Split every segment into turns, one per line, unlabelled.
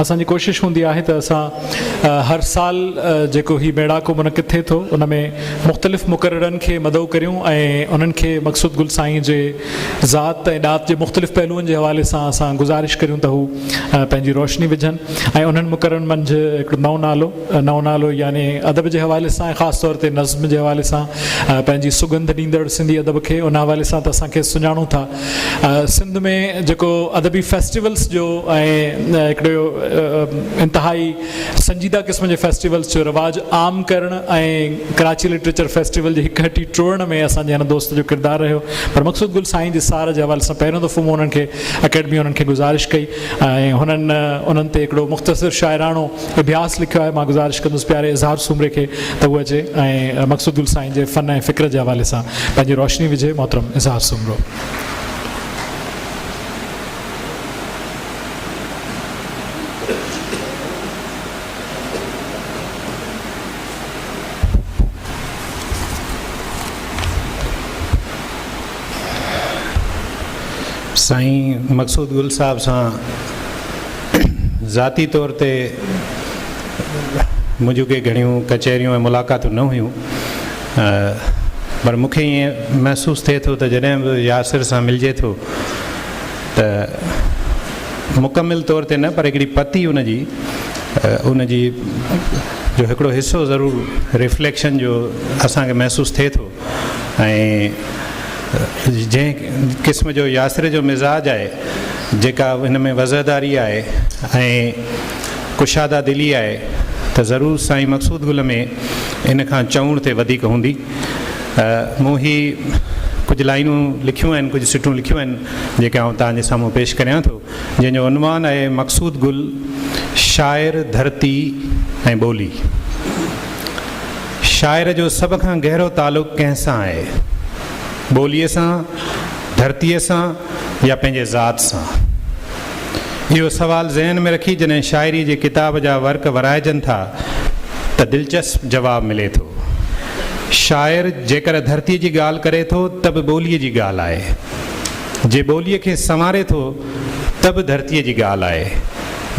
اسان جي ڪوشش هوندي آهي ته اسان هر سال جيڪو هي ميڙاڪو منعقد ٿئي ٿو ان ۾ مختلف مقررن کي مدعو ڪريون ۽ انهن کي مقصود گل سائين جي ذات ۽ ڏات جي مختلف پهلوئن جي حوالي سان اسان گذارش ڪريون ته هو پنهنجي روشني وجهن ۽ انهن مقررن منجهه هڪڙو نئون نالو نئون نالو يعني ادب جي حوالي سان ۽ خاص طور تي نظم جي حوالي سان پنهنجي سگنڌ ڏيندڙ سنڌي ادب کي ان حوالي سان ته اسان کيس سڃاڻون ٿا سنڌ ۾ جيڪو ادبي فيسٽيولس جو ۽ هڪڙو انتهائي سنجيده قسم جي فيسٽيولس جو رواج عام ڪرڻ ۽ ڪراچي لٽريچر فيسٽيول جي هڪ هٽي ٽوڙڻ ۾ اسان جي هن دوست جو ڪردار رهيو پر مقصود گل سائين جي سار جي حوالي سان پهريون دفعو مون انهن کي اڪيڊمي انهن کي گذارش ڪئي ۽ هنن انهن تي هڪڙو مختصر شاعراڻو اڀياس لکيو آهي مان گذارش ڪندس پياري اظهار سومري کي ته هو اچي ۽ مقصود گل سائين جي فن ۽ فڪر جي حوالي سان پنهنجي روشني وجهي محترم اظهار سومرو.
سائين مقصود گل صاحب سان ذاتي طور تي منهنجون ڪي گهڻيون ڪچهريون ۽ ملاقاتون نه هيون پر مون کي ائين محسوس ٿئي ٿو ته جڏهن به ياسر سان ملجي ٿو ته مڪمل طور تي نه پر هڪڙي پتي ان جي ان جي جو هڪڙو حصو ضرور ريفليڪشن جو اسانکي محسوس ٿئي ٿو ۽ جنهن قسم جو ياسر جو مزاج آهي جيڪا هن ۾ وضعداري آهي ۽ ڪشاده دلي آهي ته ضرور سائين مقصود گل ۾ ان کان چؤڻ تي وڌيڪ هوندي مون هي ڪجهه لائينون لکيون آهن ڪجهه سٽون لکيون آهن جيڪي آئون توهان جي سامهون پيش ڪريان ٿو جنهن جو عنوان آهي مقصود گل شاعر ڌرتي ۽ ٻولي شاعر جو سڀ کان گهرو تعلق ڪنهن سان آهي؟ ٻوليء سان، ڌرتيء سان يا پنهنجي ذات سان؟ اهو سوال ذهن ۾ رکي جڏهن شاعريء جي ڪتاب جا ورق ورائجن ٿا ته دلچسپ جواب ملي ٿو. شاعر جيڪڏهن ڌرتيء جي ڳالهه ڪري ٿو ته به ٻوليء جي ڳالهه آهي. جي ٻوليء کي سنواري ٿو ته به ڌرتيء جي ڳالهه آهي.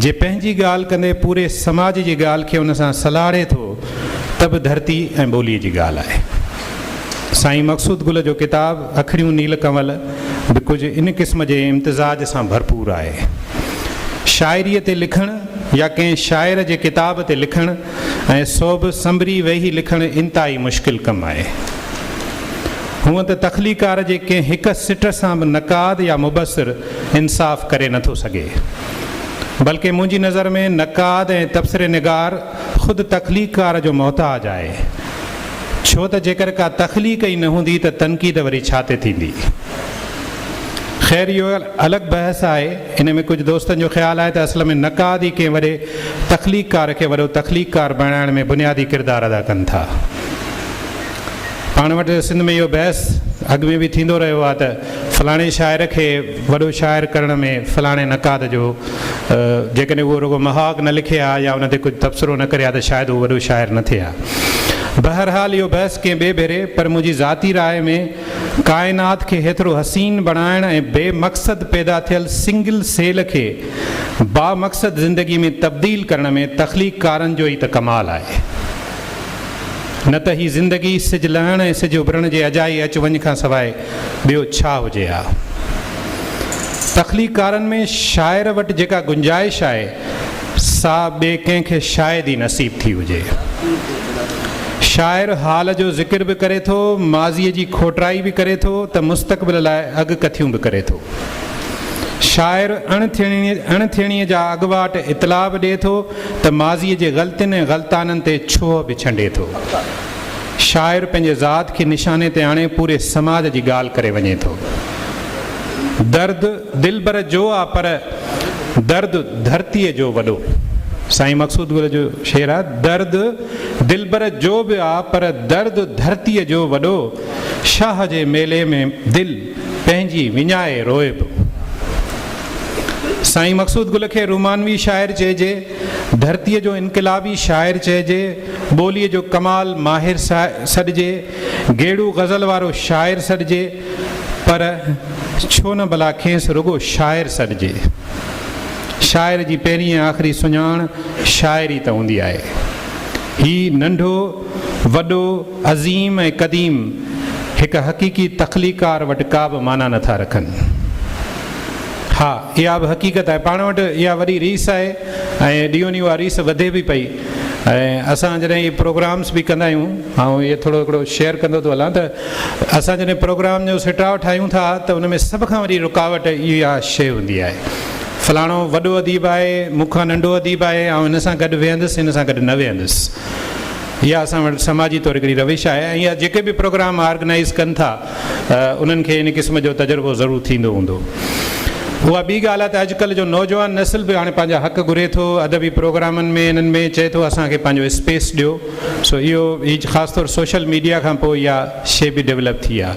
جي پنهنجي ڳالهه ڪندي پوري سماج جي ڳالهه کي ان سان سلهاڙي ٿو ته به ڌرتي ۽ ٻوليء جي ڳالهه آهي. سائين مقصود گل جو ڪتاب اکڙيون نيل ڪنول به ڪجهه ان قسم جي امتزاج سان ڀرپور آهي. شاعريء تي لکڻ يا ڪنهن شاعر جي ڪتاب تي لکڻ ۽ سو به سنبري ويهي لکڻ انتهائي مشڪل ڪم آهي. هونئن ته تخليقڪار جي ڪنهن هڪ سٽ سان به نقاد يا مبصر انصاف ڪري نٿو سگهي. بلڪه منهنجي نظر ۾ نقاد ۽ تبصري نگار خود تخليقڪار جو محتاج آهي، ڇو ته جيڪر ڪا تخليق ئي نه هوندي ته تنقيد وري ڇا تي ٿيندي؟ خير اهو الڳ بحث آهي. ان ۾ ڪجهه دوستن جو خيال آهي ته اصل ۾ نقاد ئي ڪنهن وڏي تخليقڪار کي وڏو تخليقڪار بڻائڻ ۾ بنيادي ڪردار ادا ڪن ٿا. پاڻ وٽ سنڌ ۾ اهو بحث اڳ ۾ به ٿيندو رهيو آهي ته فلاڻي شاعر کي وڏو شاعر ڪرڻ ۾ فلاڻي نقاد جو جيڪڏهن اهو رڳو مهاڳ نه لکي ها يا ان تي ڪجهه تبصرو نه ڪري ها ته شايد هو وڏو شاعر نه ٿئي ها. بهرحال اهو بحث ڪنهن ٻئي ڀيري پر منهنجي ذاتي راء ۾ ڪائنات کي هيترو حسين بڻائڻ ۽ بي مقصد پيدا ٿيل سنگل سيل کي با مقصد زندگي ۾ تبديل ڪرڻ ۾ تخليق ڪارن جو ئي ته ڪمال آهي نه ته هي زندگي سج لهڻ ۽ سج اڀرڻ جي اجائي اچ وڃ کان سواء ٻيو ڇا هجي ها؟ تخليقڪارن ۾ شاعر وٽ جيڪا گنجائش آهي، سا ٻئي ڪنهن کي شايد ئي نصيب ٿي هجي. شاعر حال جو ذڪر به ڪري ٿو، ماضيء جي کوٽرائي به ڪري ٿو ته مستقبل لاء اڳ ڪٿيون به ڪري ٿو. شاعر اڻ ٿيڻي اڻ ٿيڻيء جا اڳواٽ اطلاع به ڏئي ٿو ته ماضيء جي غلطين ۽ غلطانن تي ڇوهه به ڇنڊي ٿو. شاعر پنهنجي ذات کي نشاني تي آڻي پوري سماج جي ڳالهه ڪري وڃي ٿو. درد دلبر جو آ پر درد ڌرتيء جو وڏو. سائين مقصود گل جو شعر آ درد دلبر جو به آ پر درد ڌرتيء جو وڏو شاهه جي ميلي ۾ دل پنهنجي وڃائي روئي پيو. سائين مقصود گل کي رومانوي شاعر چئجي. ڌرتيء جو انقلابي شاعر چئجي، ٻوليء جو ڪمال ماهر سڏجي، گيڙو غزل وارو شاعر سڏجي، پر ڇو نه ڀلا کيس رڳو شاعر سڏجي؟ شاعر جي پهرين ۽ آخري سڃاڻ شاعري ته هوندي آهي. هي ننڍو، وڏو، عظيم ۽ قديم هڪ حقيقي تخليقار وٽ ڪابه معنيٰ نٿا رکن. ها اها به حقيقت آهي پاڻ وٽ اها وڏي ريس آهي ۽ ڏينهون ڏينهون اها ريس وڌي به پئي ۽ اسان جڏهن اهي پروگرامس به ڪندا آهيون آئون اهي ٿورو هڪڙو شيئر ڪندو ٿو هلان ته اسان جڏهن پروگرام جو سٽاء ٺاهيون ٿا ته ان ۾ سڀ کان وڏي رڪاوٽ اها شيء هوندي آهي فلاڻو وڏو اديب آهي مون کان ننڍو اديب آهي آئون هن سان گڏ ويهندس هن سان گڏ نه ويهندس اها اسان وٽ سماجي طور هڪڙي روش آهي ۽ اها جيڪي به پروگرام آرگنائز ڪن ٿا انهن کي ان قسم جو تجربو ضرور ٿيندو هوندو. اها ٻي ڳالهه آهي ته اڄڪلهه جو نوجوان نسل به هاڻي پنهنجا حق گهري ٿو، ادبي پروگرامن ۾ انهن ۾ چئي ٿو اسان کي پنهنجو اسپيس ڏيو. سو اهو هي خاص طور سوشل ميڊيا کان پوء اها شيء به ڊولپ ٿي آهي.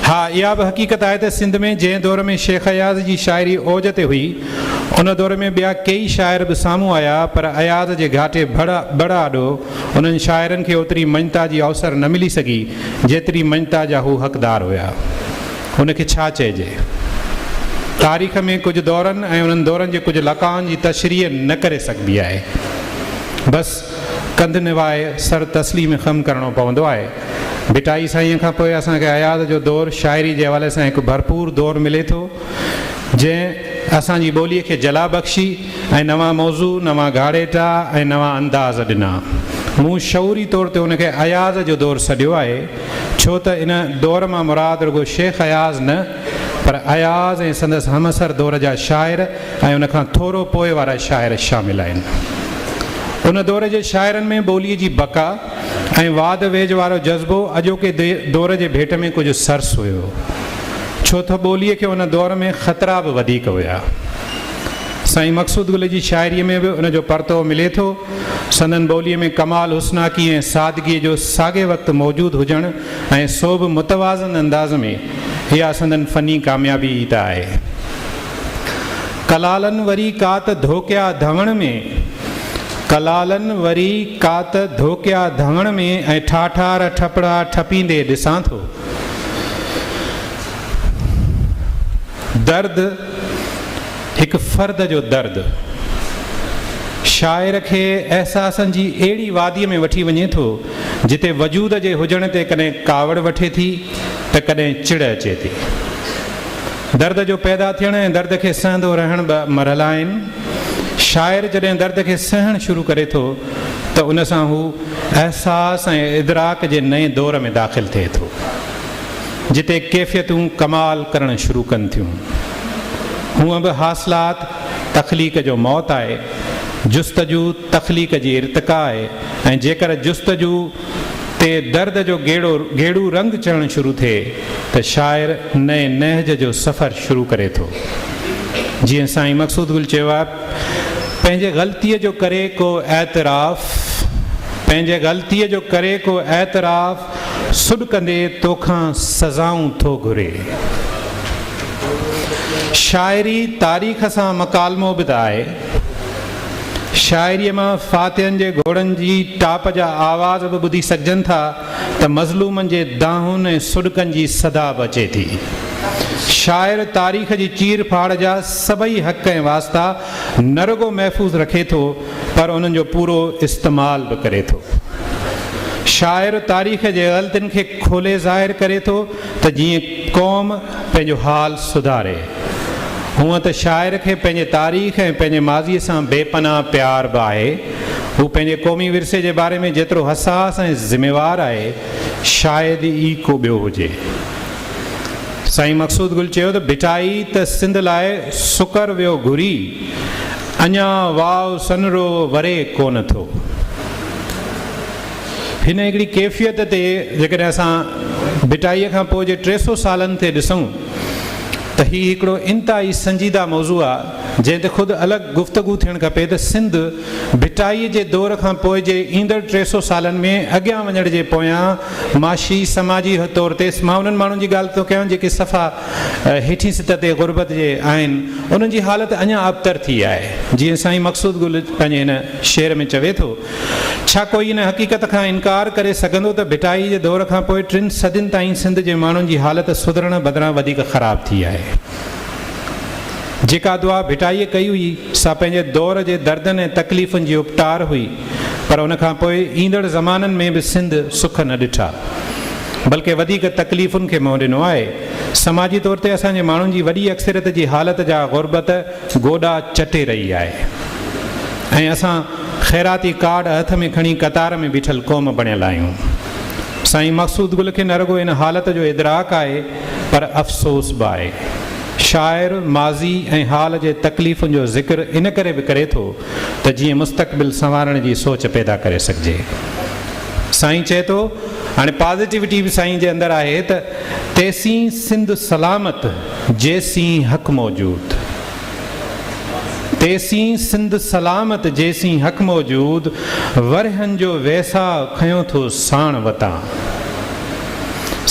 ها اها به حقيقت آهي ته سنڌ ۾ جنهن دور ۾ شيخ اياز جي شاعري اوج تي هئي، ان دور ۾ ٻيا ڪيئي شاعر به سامهون آيا پر اياز جي گهاٽي بڙ آڏو انهن شاعرن کي اوتري مڃتا جي اوسر نه ملي سگهي، جيتري مڃتا جا هو حقدار هيا. ان کي ڇا چئجي؟ تاريخ ۾ ڪجهه دورن ۽ انهن دورن جي ڪجهه لقائن جي تشريح نه ڪري سگهبي آهي. بس ڪنڌ نوائي سر تسليم خم ڪرڻو پوندو آهي. ڀٽائي سائينء کان پوء اسان کي اياز جو دور شاعري جي حوالي سان هڪ ڀرپور دور ملي ٿو. جنهن اسان جي ٻوليء کي جلا بخشي ۽ نوان موضوع، نوان گهاڙيٽا ۽ نوان انداز ڏنا. مون شعوري طور تي ان کي اياز جو دور سڏيو آهي، ڇو ته ان دور مان مراد رڳو شيخ اياز نه، پر اياز ۽ سندس همعصر دور جا شاعر ۽ ان کان ٿورو پوء وارا شاعر شامل آهن. ان دور جي شاعرن ۾ ٻوليء جي بقا، ۽ واڌ ويجهه وارو جذبو اڄوڪي دور جي ڀيٽ ۾ ڪجهه سرس هيو، ڇو تھ ٻوليء کي ان دور ۾ خطرا بھ وڌيڪ هيا. سائين مقصود گل جي شاعريء ۾ بھ ان جو پرتوء ملي ٿو. سندن ٻوليء ۾ ڪمال حسناڪي ۽ سادگيء جو ساڳئي وقت موجود هجڻ ۽ سو بھ متوازن انداز ۾، اها سندن فني ڪاميابي ئي تھ آهي. ڪلالن وري ڪات ڌوڪيا ڌوڻ ۾، ڪلالن وري ڪات ڌوڪيا ڌوڻ ۾، ۽ ٺاٺار ٺپڙا ٺپيندي ڏسان ٿو. درد هڪ فرد جو درد شاعر کي احساسن جي اهڙي واديء ۾ وٺي وڃي ٿو، جتي وجود جي هجڻ تي ڪڏهن ڪاوڙ وٺي ٿي ته ڪڏهن چڙ اچي ٿي. درد جو پيدا ٿيڻ ۽ درد کي سهندو رهڻ ٻه مرحلا آهن. شاعر جڏهن درد کي سهڻ شروع ڪري ٿو ته ان سان هو احساس ۽ ادراڪ جي نئين دور ۾ داخل ٿئي ٿو، جتي ڪيفيتون ڪمال ڪرڻ شروع ڪن ٿيون. هونء به حاصلات تخليق جو موت آهي، جستجو تخليق جي ارتقا آهي ۽ جيڪر جستجو، تي درد جو گيڙو گيڙو رنگ چڙهڻ شروع ٿئي ته شاعر نئين نهج جو سفر شروع ڪري ٿو. جيئن سائين مقصود گل چيو آهي پنهنجي غلطيء جو ڪري ڪو اعتراف پنهنجي غلطيء جو ڪري ڪو اعتراف سڏ ڪندي توکان سزائون ٿو گهري. شاعري تاريخ سان مڪالمو به ته آهي. شاعريء مان فاتحن جي گهوڙن جي ٽاپ جا آواز به ٻڌي سگهجن ٿا ته مظلومن جي دانهن ۽ سڏڪن جي صدا به اچي ٿي. شاعر تاريخ جي چير ڦاڙ جا سڀئي حق ۽ واسطا نه رڳو محفوظ رکي ٿو پر انهن جو پورو استعمال به ڪري ٿو. شاعر تاريخ جي غلطين کي کولي ظاهر ڪري ٿو ته جيئن قوم پنهنجو حال سڌاري. هونئن ته شاعر کي پنهنجي تاريخ ۽ پنهنجي ماضيء سان بي پناهه پيار به آهي. هو پنهنجي قومي ورثي جي باري ۾ جيترو حساس ۽ ذميوار آهي، شايد ئي ڪو ٻيو هجي. سائين مقصود گل چيو ته ڀٽائي ته سنڌ لاء سڪر ويو گهري، اڃا واء سنرو وري ڪونه ٿو. هن هڪڙي ڪيفيت تي جيڪڏهن اسان ڀٽائيء کان پوء جي ٽي سؤ سالن تي ڏسون ته هي هڪڙو انتهائي سنجيده موضوع آ، جنهن تي خود الڳ گفتگو ٿيڻ کپي ته سنڌ ڀٽائيء جي دور کان پوء جي ايندڙ ٽي سؤ سالن ۾ اڳيان وڃڻ جي پويان معاشي، سماجي طور تي مان انهن ماڻهن جي ڳالهه ٿو ڪيان جيڪي صفا هيٺين سطح تي غربت جي آهن، انهن جي حالت اڃا ابتر ٿي آهي. جيئن سائين مقصود گل پنهنجي هن شعر ۾ چوي ٿو. ڇا ڪوئي ان حقيقت کان انڪار ڪري سگهندو ته ڀٽائي جي دور کان پوء ٽن صدين تائين سنڌ جي ماڻهن جي حالت سڌرڻ بدران وڌيڪ خراب ٿي آهي. جيڪا دعا ڀٽائي ڪئي هئي سا پنهنجي دور جي دردن ۽ تڪليفن جي اپٽار هئي پر ان کان پوء ايندڙ زمانن ۾ به سنڌ سک نه ڏٺا بلڪه وڌيڪ تڪليفن کي منهن ڏنو آهي. سماجي طور تي اسان جي ماڻهن جي وڏي اڪثريت جي حالت جا غربت، گوڏا چٽي رهي آهي ۽ اسان خيراتي ڪارڊ هٿ ۾ کڻي قطار ۾ بيٺل قوم بڻيل آهيون. سائين مقصود گل کي نه رڳو ان حالت جو ادراڪ آهي پر افسوس به آهي. شاعر ماضي ۽ حال جي تڪليفن جو ذڪر ان ڪري به ڪري ٿو ته جيئن مستقبل سنوارڻ جي سوچ پيدا ڪري سگهجي. سائين چئي ٿو هاڻي پازيٽيوٽي به سائين جي اندر آهي ته تيسين سنڌ سلامت. جيسين حق موجود تيسين سنڌ سلامت جيسين حق موجود ورهين جو ويساهه کنيو ٿو ساڻ وتان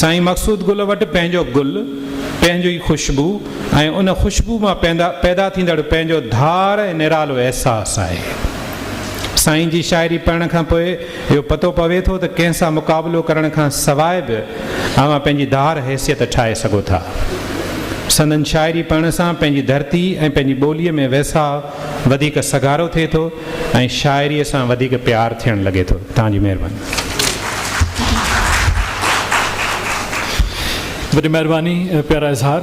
سائين مقصود گل وٽ پنهنجو گل پنهنجو ئي خوشبو ۽ ان خوشبو مان پيدا ٿيندڙ پنهنجو ڌار ۽ نرالو احساس آهي سائين جي شاعري پڙهڻ کان پوء اهو پتو پوي ٿو ته ڪنهن سان مقابلو ڪرڻ کان سواء به اوهان پنهنجي ڌار حيثيت ٺاهي سگهو ٿا. سندن شاعري پڙهڻ سان پنهنجي ڌرتي ۽ پنهنجي ٻوليء ۾ ويساء وڌيڪ سگهارو ٿئي ٿو ۽ شاعريء سان وڌيڪ پيار ٿيڻ لڳي ٿو. توهان جي مهرباني.
وڏي مهرباني پيارا اظهار.